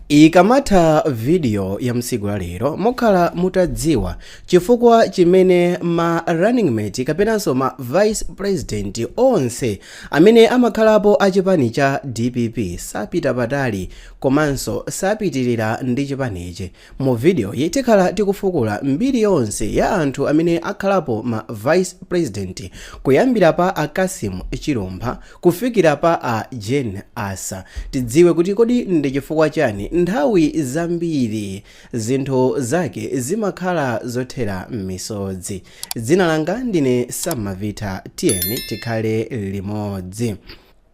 ikamatha vidiyo ya tsiku la lero mukhala mutadziwa chifukwa chimene ma running mate kapenanso ma vice president onse amene amakhalapo a chipani cha dpp sapita patali komanso sapitirira ndi chipanichi Mu video yi tikhala tikufukula mbiri yonse ya anthu amene akhalapo ma vice president kuyambira pa a Cassim Chilumpha kufikira pa a Jane Ansah tidziwe kuti kodi ndi chifukwa chani nthawi zambiri zinthu zake zimakhala zothera mmisozi. Dzina langa ndine Samavita tiyeni tikhale limodzi.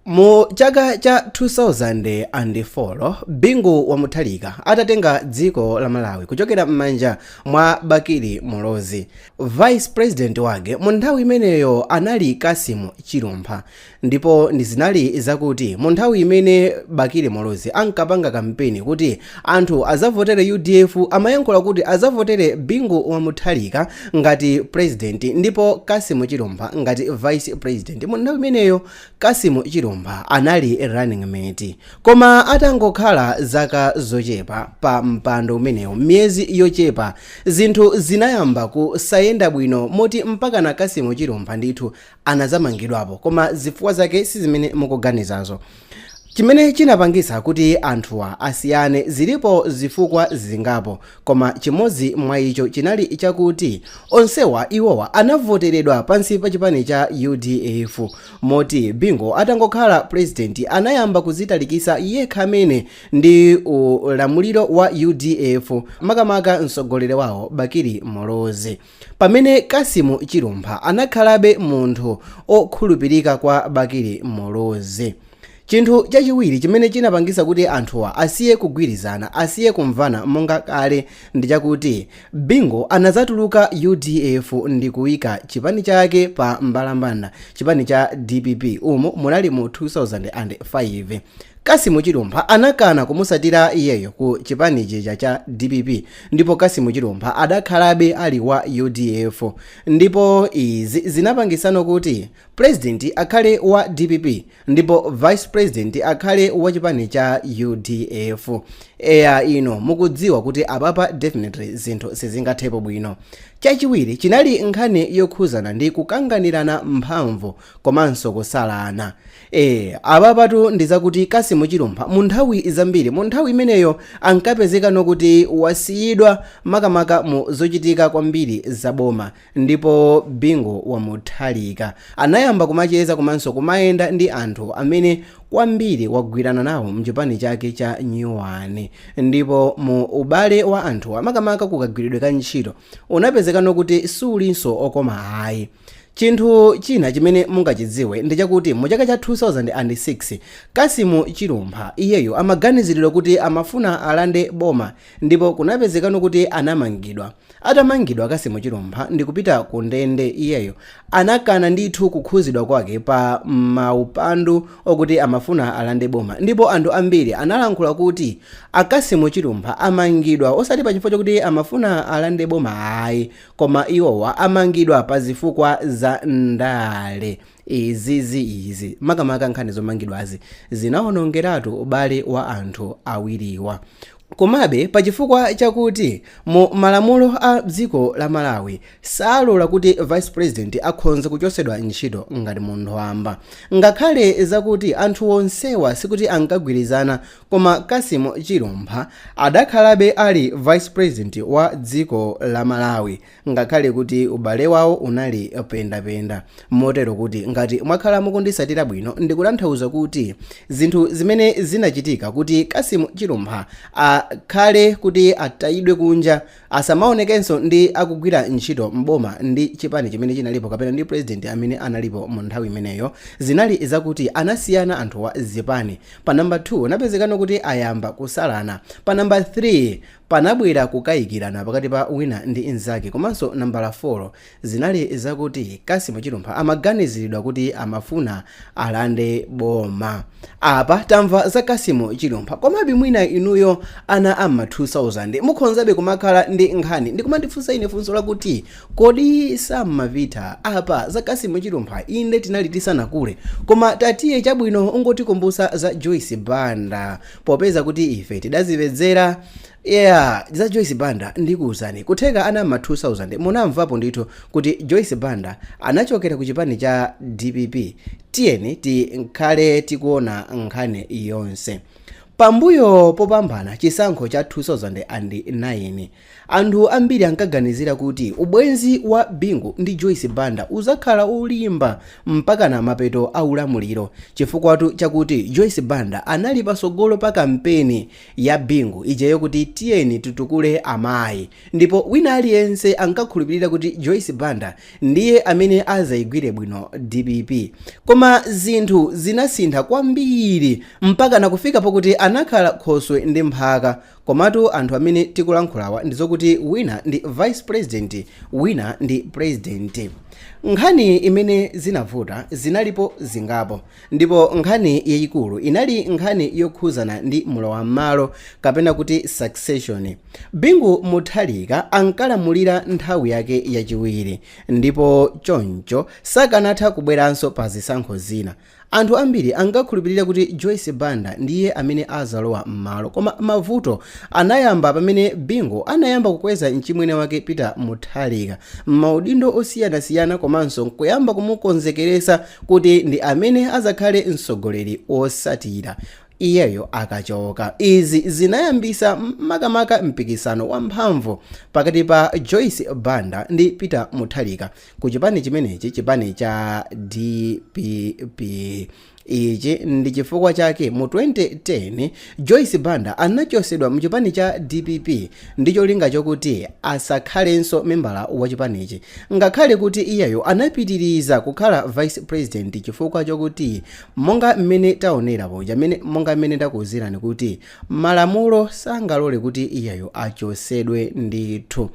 Mu chaka cha 2004 Bingu wa Mutharika atatenga dziko la Malawi kuchokera m'manja mwa Bakili Muluzi, Vice President wake mu nthawi imeneyo anali Cassim Chilumpha ndipo zinali zakuti mu nthawi imene Bakili Muluzi ankapanga kampeni kuti anthu azavotere udf amayankhula kuti azavotere Bingu wa Mutharika ngati President ndipo Cassim Chilumpha ngati Vice President mu nthawi imeneyo Cassim Chilumpha anali running mate koma atangokhala zaka zochepa pa mpando umenewu miyezi yochepa zinthu zinayamba kusayenda bwino moti mpakana Cassim Chilumpha ndithu anazamangidwapo koma zifukwa zake si zimene mukuganizazo chimene chinapangisa kuti anthuwa asiyane zilipo zifukwa zingapo Koma chimodzi mwa icho chinali chakuti onsewa iwowa anavoteredwa pansi pa chipani cha udf moti Bingu atangokhala president anayamba kuzitalikisa yekha mwene ndi ulamuliro wa udf makamaka mtsogoleri wawo Bakili Muluzi. Pamene Cassim Chilumpha anakhalabe munthu okhulupirika kwa Bakili Muluzi. Chinthu chachiwiri chimene chinapangisa kuti anthuwa asiye kugwirizana, asiye kumvana monga kale ndichakuti Bingu anazatuluka udf ndi kuyika chipani chake pa mbalambanda, chipani cha dpp, umu munali mu 2005. Cassim Chilumpha anakana kumutsatira iyeyo ku chipani chija cha dpp ndipo Cassim Chilumpha adakhalabe ali wa udf ndipo izi zinapangisano kuti president akhale wa dpp ndipo vice president akhale wa chipani cha udf eya inu mukudziwa kuti apapa definitely zinthu sizingathepo bwino chachiwiri chinali nkhani yokhuzana ndi kukanganirana mphamvu komanso kusalana Eee apapatu ndizakuti Kassim Chilumpha munthawi zambiri munthawi imeneyo ankapezekano kuti wasiyidwa makamaka mu zochitika kwambiri za boma ndipo Bingu wa Mutharika anayamba kumacheza komanso kumayenda ndi anthu amene kwambiri wagwirana nawo mchipani chake cha nyuwani ndipo mu ubale wa anthuwa makamaka kukagwiridwe ka ntchito unapezekano kuti sulinso okoma ayi. Chinthu china chimene mungachidziwe ndi chakuti mu chaka cha 2006, Kasimu Chilumpha iyeyo amaganiziridwa kuti amafuna alande boma ndipo kunapezekano kuti anamangidwa. Atamangidwa Kasimu Chilumpha ndikupita ku ndende iyeyo anakana ndithu kukhuzidwa kwake pa maupandu okuti amafuna alande boma ndipo anthu ambiri analankhula kuti a Kasimu Chilumpha amangidwa osati pa chifukwa chokuti amafuna alande boma ayi koma iwowa amangidwa pa zifukwa za ndale izi zi izi makamaka nkhani zomangidwazi zinawonongeratu ubale wa anthu awiriwa komabe pa chifukwa chakuti mu malamulo a dziko la malawi salola kuti vice president akhonze kuchosedwa ntchito ngati munthu wamba ngakhale zakuti anthu onsewa sikuti ankagwirizana Koma Cassim Chilumpha adakhalabe ali Vice President wa dziko la Malawi ngakhale kuti ubale wawo unali pendapenda. Motero kuti ngati mwakhala mukundisatira bwino ndikutanthauza kuti zinthu zimene zinachitika kuti Cassim Chilumpha akhale kuti atayidwe kunja asamaonekenso ndi akugwira ntchito m'boma ndi chipani chimene chinalipo kapena ndi president amene analipo mu nthawi imeneyo zinali zakuti anasiyana anthu wa zipani pa nambala 2 napezekano kuti ayamba kusalana pa nambala 3 panabwera kukayikirana pakati pa wina ndi mzake komanso nambala 4 zinali zakuti Kassim Chilumpha amaganiziridwa kuti amafuna alande boma. Apa tamva za Kassim Chilumpha komabe mwina inuyo ana a m'ma 2000 mukhonzabe kumakhala ndi nkhani ndi kumandifunsa ine funso lakuti kodi Sam Mavitha apa za Kassim Chilumpha inde tinali tisanakule koma tatiye chabwino ungotikumbusa za Joyce Banda popeza kuti ife tidazipedzera yeah za joyce banda ndikuwuzani kutheka ana ma 2000 munamvapo ndithu kuti joyce banda anachokera ku chipani cha dpp tiyeni tikhale tikuona nkhani yonse pambuyo popambana chisankho cha 2009 anthu ambiri ankaganizira kuti ubwenzi wa bingu ndi joyce banda uzakhala ulimba mpakana mapeto a ulamuliro chifukwatu chakuti joyce banda anali pasogolo pa kampeni ya Bingu ija yokuti tiyeni titukule amayi ndipo wina aliyense ankakhulupirira kuti Joyce Banda ndiye amene azayigwire bwino dpp koma zinthu zinasintha kwambiri mpakana kufika pokuti anakhala khoswe ndi mphaka komatu anthu amene tikulankhulawa ndizokuti wina ndi vice president wina ndi president nkhani imene zinavuta zinalipo zingapo Ndipo nkhani yayikulu inali nkhani yokhuzana ndi mlowammalo kapena kuti succession. Bingu Mutharika ankalamulira nthawi yake yachiwiri ndipo choncho sakanatha kubweranso pa zisankho zina. Anthu ambiri ankakhulupirira kuti Joyce Banda ndiye amene azalowa mmalo koma mavuto anayamba pamene Bingu anayamba kukweza mchimwene wake Peter Mutharika mmaudindo osiyanasiyana komanso kuyamba kumukonzekeresa kuti ndi amene azakhale mtsogoleri wosatira iyeyo akachoka izi zinayambisa makamaka mpikisano wamphamvu pakati pa joyce banda ndi peter mutharika ku chipani chimenechi chipani cha dpp ichi ndi chifukwa chake mu 2010 Joyce Banda anachosedwa mchipani cha dpp ndicholinga chokuti asakhalenso membala wa chipanichi ngakhale kuti iyeyo anapitiriza kukhala vice president chifukwa chokuti monga mmene taonera poja mmene monga mmene ndakuuzirani kuti malamulo sangalole kuti iyeyo achosedwe ndithu.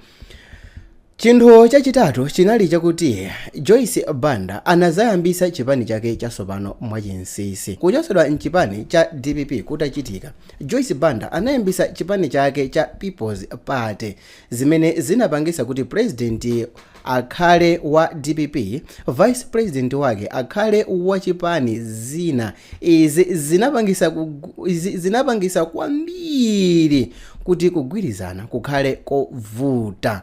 Chinthu chachitatu chinali chakuti Joyce Banda anadzayambisa chipani chake chasopano mwachinsinsi. Kuchosedwa m'chipani cha dpp kutachitika, Joyce Banda anayambisa chipani chake cha People's Party, zimene zinapangisa kuti pulezidenti akhale wa dpp, vice president wake akhale wa chipani zina, Izi zinapangisa, kugu, izi zinapangisa kwambiri kuti kugwirizana kukhale kovuta.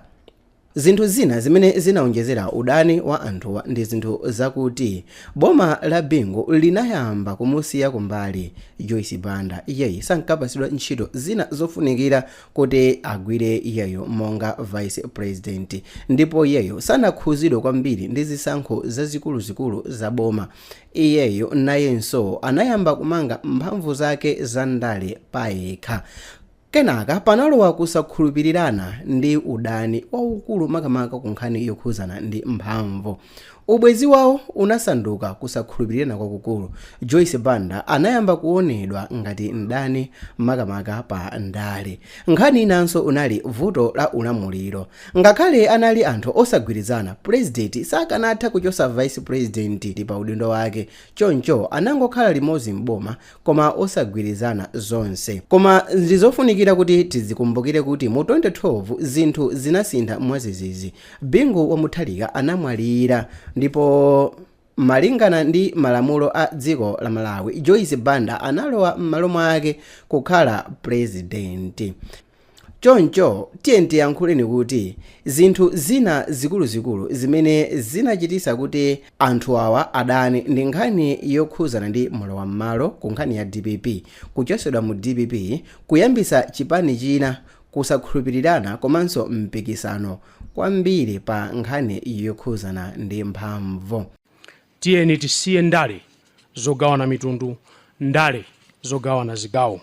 Zinthu zina zimene zinaonjezera udani wa anthuwa ndi zinthu zakuti boma la Bingu linayamba kumusiya kumbali Joyce Banda, iyeyu sankapasidwa ntchito zina zofunikira kuti agwire iyeyo monga vice president ndipo iyeyo sanakhuzidwe kwambiri ndi zisankho zazikuluzikulu za boma. Iyeyo nayenso anayamba kumanga mphamvu zake za ndale payekha. Kenaka panalowa kusakhulupirirana ndi udani waukulu makamaka ku nkhani yokhuzana ndi mphamvu. Ubwezi wawo unasanduka kusakhulupirirana kwakukulu. Joyce Banda anayamba kuonedwa ngati mdani makamaka pa ndale. Nkhani inanso unali vuto la ulamuliro. Ngakhale anali anthu osagwirizana, pulezidenti sakanatha kuchosa vice president pa udindo wake choncho anangokhala limodzi m'boma koma osagwirizana zonse. Koma ndizofunikira kuti tizikumbukire kuti mu 2012 zinthu zinasintha mwadzidzidzi, Bingu wa Mutharika anamwalira ndipo. Malingana ndi malamulo a dziko la Malawi, Joyce Banda analowa m'malo mwake kukhala pulezidenti. Choncho tiyeni tiyankhuleni kuti zinthu zina zikuluzikulu zimene zinachitisa kuti anthu awa adane ndi nkhani yokhuzana ndi mlowam'malo ku nkhani ya dpp, kuchosedwa mu dpp, kuyambisa chipani china kusakhulupirirana komanso mpikisano kwambiri pa nkhani yokhuzana ndi mphamvu. Tiyeni tisiye ndale zogawana mitundu, ndale zogawana zigawo.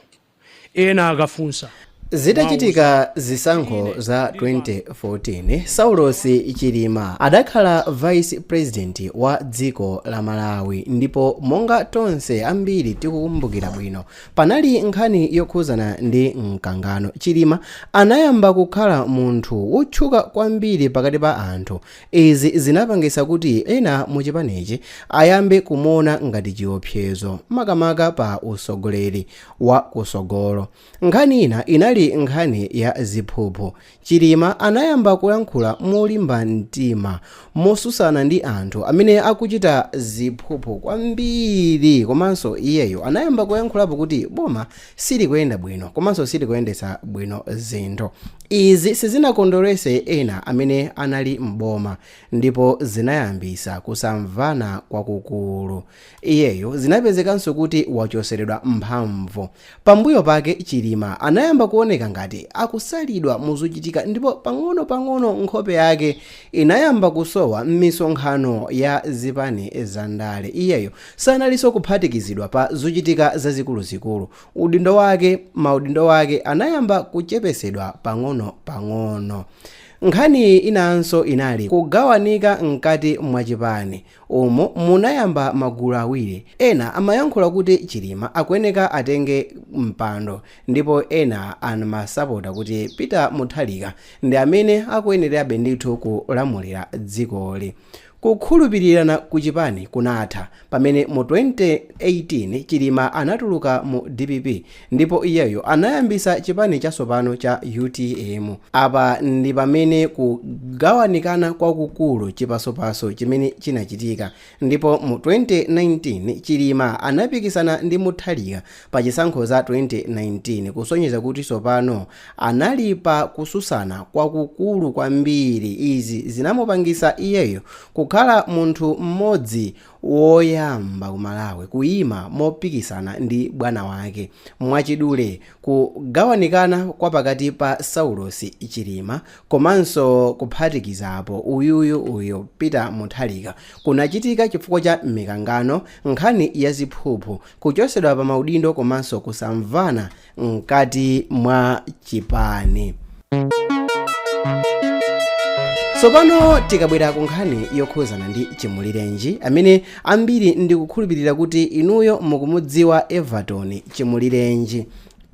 Ena akafunsa. Zitachitika zisankho za 2014, Saulos Chilima adakhala Vice President wa dziko la Malawi ndipo monga tonse ambiri tikukumbukira bwino, Panali nkhani yokhuzana ndi mkangano. Chilima anayamba kukhala munthu wotchuka kwambiri pakati pa anthu. Izi zinapangisa kuti ena mu chipanichi ayambe kumuona ngati chiopsezo makamaka pa usogoleri wa kusogolo. Nkhani ina inali nkhani ya ziphuphu. Chilima anayamba kuyankhula molimba mtima mosusana ndi anthu amene akuchita ziphuphu kwambiri komanso iyeyo anayamba kuyankhulapo kuti boma silikuyenda bwino komanso silikuyendetsa bwino zinthu. Izi sizinakondwerese ena amene anali m'boma ndipo zinayambisa kusamvana kwakukulu. Iyeyo zinapezekanso kuti wachoseredwa mphamvu. Pambuyo pake Chilima anayamba kuoneka ngati akusalidwa muzochitika ndipo pang'ono pang'ono nkhope yake inayamba kusowa mmisonkhano ya zipani za ndale. Iyeyo sanalinso kuphatikizidwa pa zochitika zazikuluzikulu. Udindo wake, maudindo ake anayamba kuchepesedwa pang'ono pang'ono. Nkhani inanso inali kugawanika mkati mwa chipani. umu munayamba magulu awiri ena amayankhula kuti Chilima akuyeneka atenge mpando ndipo ena amasapota kuti Peter Mutharika ndi amene akuyenerabe ndithu kulamulira dzikoli kukhulupirirana ku chipani kunatha pamene mu 2018 Chilima anatuluka mu dpp Ndipo iyeyo anayambisa chipani chatsopano cha utm apa ndi pamene kugawanikana kwakukulu chipasopaso chimene chinachitika ndipo mu 2019 chilima anapikisana ndi mutharika pa chisankho za 2019 kusonyeza kuti tsopano anali pa kutsutsana kwakukulu kwambiri izi zinamupangisa iyeyo kukhala munthu mmodzi woyamba ku Malawi kuyima mopikisana ndi bwana wake. Mwachidule, kugawanikana kwa pakati pa Saulosi Chilima komanso kuphatikizapo uyuyu uyu Peter Mutharika kunachitika chifukwa cha mikangano, nkhani ya ziphuphu, kuchotsedwa pa maudindo komanso kusamvana mkati mwa chipani tsopano tikabwera ku nkhani yokhuzana ndi chimulirenji amene ambiri ndikukhulupirira kuti inuyo mukumudziwa everton chimulirenji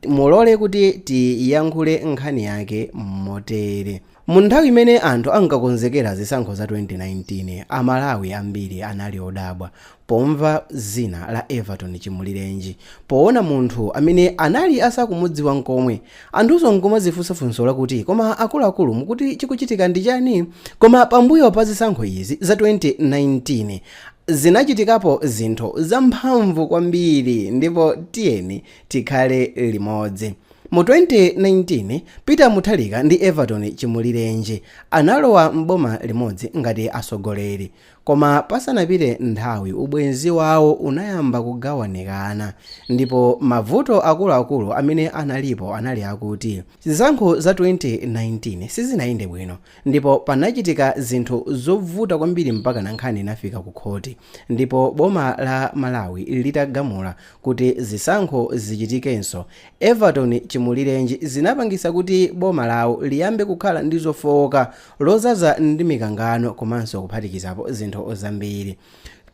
mulole kuti tiyankhule nkhani yake motere Mu nthawi imene anthu ankakonzekera zisankho za 2019, a Malawi ambiri anali odabwa pomva zina la Everton Chimulirenji. Poona munthu amene anali asakumudziwa nkomwe, anthunso nkumadzifunsa funso lakuti koma akuluakulu mukuti chikuchitika ndi chani? Koma pambuyo pa zisankho izi za 2019, zinachitikapo zinthu zamphamvu kwambiri ndipo tiyeni tikhale limodzi. Mu 2019, Peter Mutharika ndi Everton Chimulirenji analowa m'boma limodzi ngati atsogoleri. Koma pasanapite nthawi ubwenzi wawo unayamba kugawanikana ndipo mavuto akuluakulu amene analipo anali akuti zisankho za 2019 sizinayende bwino ndipo panachitika zinthu zovuta kwambiri mpakana nkhani inafika kukhoti ndipo boma la Malawi litagamula kuti zisankho zichitikenso. Everton chimulirenji zinapangisa kuti boma lawo liyambe kukhala ndi zofooka, lodzaza ndi mikangano komanso kuphatikizapo zinthu zambiri.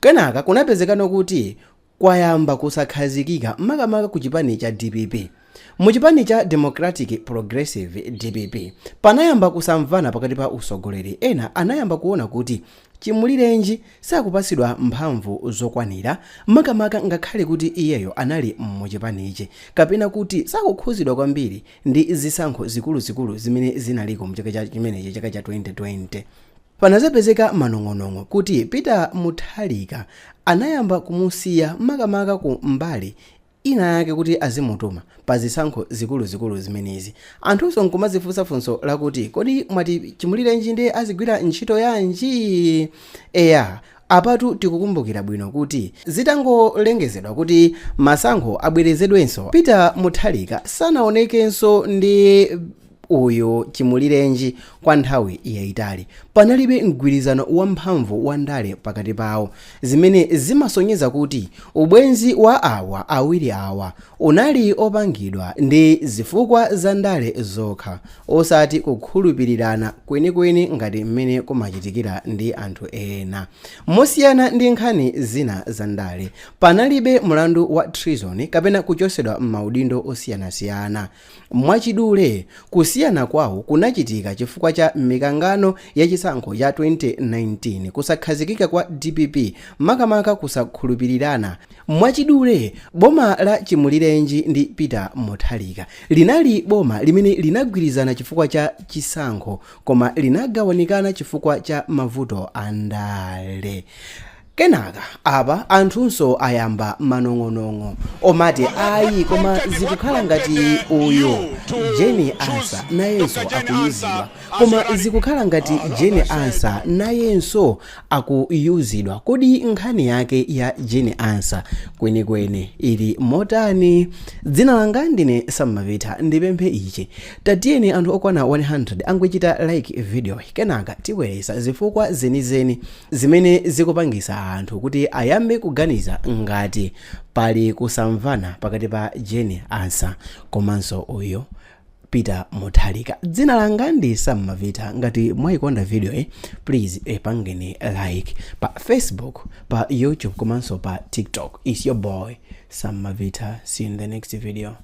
Kenaka kunapezekano kuti kwayamba kusakhazikika makamaka ku chipani cha dpp. Mu chipani cha Democratic Progressive, dpp, panayamba kusamvana pakati pa utsogoleri ena anayamba kuona kuti Chimulirenji sakupatsidwa mphamvu zokwanira makamaka ngakhale kuti iyeyo anali mu chipanichi kapena kuti sakukhuzidwa kwambiri ndi zisankho zikuluzikulu zimene zinaliko mu chaka cha chimenechi chaka cha 2020. Panadzapezeka manong'onong'o kuti Peter Mutharika anayamba kumusiya makamaka ku mbali inayake kuti azimutuma pa zisankho zikuluzikulu zimenezi. Anthunso n'kumazifunsa funso lakuti, Kodi mwati Chimulirenji ndi azigwira ntchito yanji? Eya, apatu tikukumbukira bwino kuti zitangolengezedwa kuti masankho abwerezedwenso, Peter Mutharika sanaonekenso ndi. uyu chimulirenji kwa nthawi yaitali. Panalibe mgwirizano wamphamvu wa ndale pakati pawo, zimene zimasonyeza kuti ubwenzi wa awa awiri awa unali opangidwa ndi zifukwa za ndale zokha, osati kukhulupirirana kwenikweni ngati mmene kumachitikira ndi anthu ena. Mosiyana ndi nkhani zina za ndale, panalibe mlandu wa treason kapena kuchotsedwa m'maudindo osiyanasiyana. Mwachidule, kusiyana kwawo kunachitika chifukwa cha mikangano ya chisankho cha 2019, kusakhazikika kwa dpp, makamaka kusakhulupirirana. Mwachidule, boma la Chimulirenji ndi Peter Mutharika linali boma limene linagwirizana chifukwa cha chisankho koma linagawanikana chifukwa cha mavuto andale. Kenaka apa anthunso ayamba manong'onong'o omati ayi koma zikukhala ngati uyu Jane Ansah nayenso akuyuzidwa koma zikukhala ngati Jane Ansah nayenso akuyuzidwa kodi nkhani yake ya Jane Ansah kwenikweni ili motani dzina langa ndine Sam Mavita ndipemphe ichi tatiyeni anthu okwana 100 angochita like video yi kenaka tibweretsa zifukwa zenizeni Zimene zikupangitsa anthu kuti ayambe kuganiza ngati pali kusamvana pakati pa Jane Ansah komanso uyu Peter Mutharika. Dzina langa ndi Sam Mavita. Ngati mwayikonda video yi, please ipangeni like pa Facebook, pa YouTube komanso pa TikTok. It's your boy Sam Mavita. See you in the next video.